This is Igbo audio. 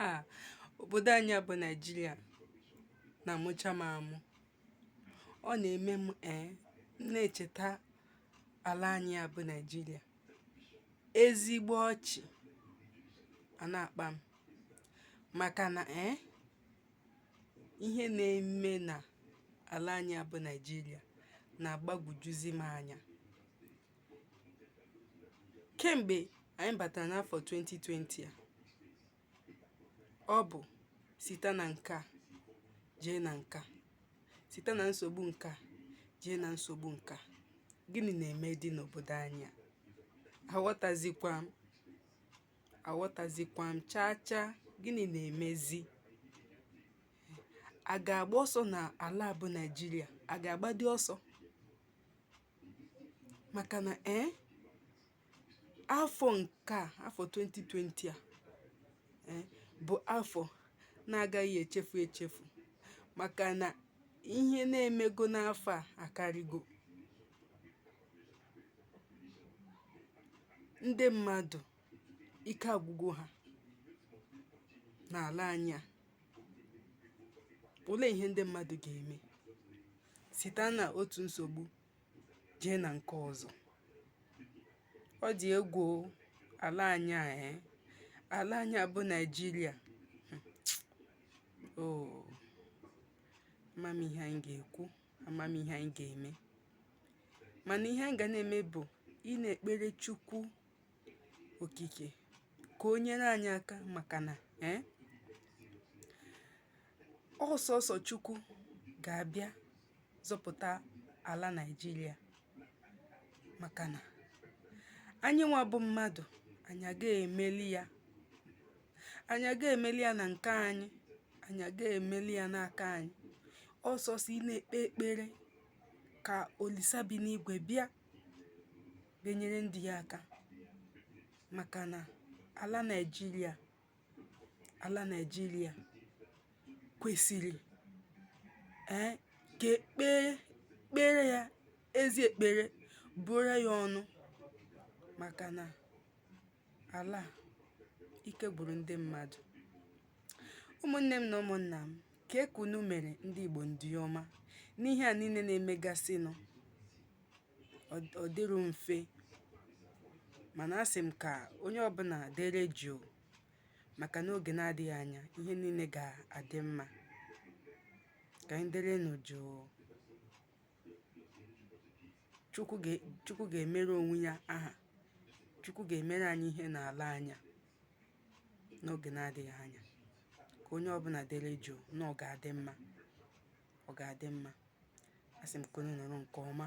ah obodo anyị a bụ Naịjirịa na-amụcha m amụ ọ na-eme m ee eh, m na-echeta ala anyị a bụ Naịjirịa ezigbo ọchị a na-akpa m maka na ee eh, ihe na-eme na ala anyị a bụ Naịjirịa na-agbagwojuzi m anya kem̀gbè ànyị bàtàrà n'afọ̀ 2020 à ọ bụ̀ sita nà ǹke à jee nà ǹke à sita nà nsògbu ǹke à jee nà nsògbu ǹke à gịnị nà-èmedị n'òbòdò anyị à àghọtazikwa m àghọtazikwa m chaa chaa gịnị nà-èmezi à gà-àgba ọsọ nà àla à bụ nàịjirịa à gà-àgbadị ọsọ maka na ee eh, afọ nke a afọ 2020 a ee eh, bụ afọ na-agaghị echefu echefu maka na ihe na-emego n'afọ a akarịgo ndị mmadụ ike agwụgo ha n'ala anyị a olee ihe ndị mmadụ ga-eme site na otu nsogbu jee na nke ọzọ ọ dị egwu ala anyị a eh? ala anyị a bụ naijiria o oh. ama m ihe anyị ga-ekwu ama m ihe anyị ga-eme mana ihe anyị ga na-eme bụ ịna-ekpere chukwu okike ka o nyere anyị aka maka na eh, ọ sọsọ chukwu ga-abịa zọpụta ala naijiria maka na anyị nwa bụ mmadụ anyị aga-emeli ya anyị aga-emeli ya na nke anyị anyị aga-emeli ya n'aka anyị ọ sọsọ ịna-ekpe ekpere ka olisa bi n'igwe bịa bịa nyere ndị ya aka maka na ala Naịjirịa ala Naịjirịa kwesịrị ee eh, ka e kpe kpeere ya ezi ekpere buuru ya ọnụ maka na ala ike gwụrụ ndị mmadụ ụmụnne m na ụmụnna m kee ka unu mere ndị Igbo ndị ọma n'ihe a niile na-emegasịnụ ọ dịrọ mfe mana asị m ka onye ọbụna dere jụụ maka n'oge na-adịghị anya ihe niile ga-adị mma ka anyị derenụ jụụ Chukwu ga- Chukwu ga-emere onwe ya aha Chukwu ga-emere anyị ihe na-ala anya n'oge na-adịghị anya ka onye ọbụna dere jụụ na ọ ga-adị mma ọ ga-adị mma. Asị m ka unu nọrọ nke ọma.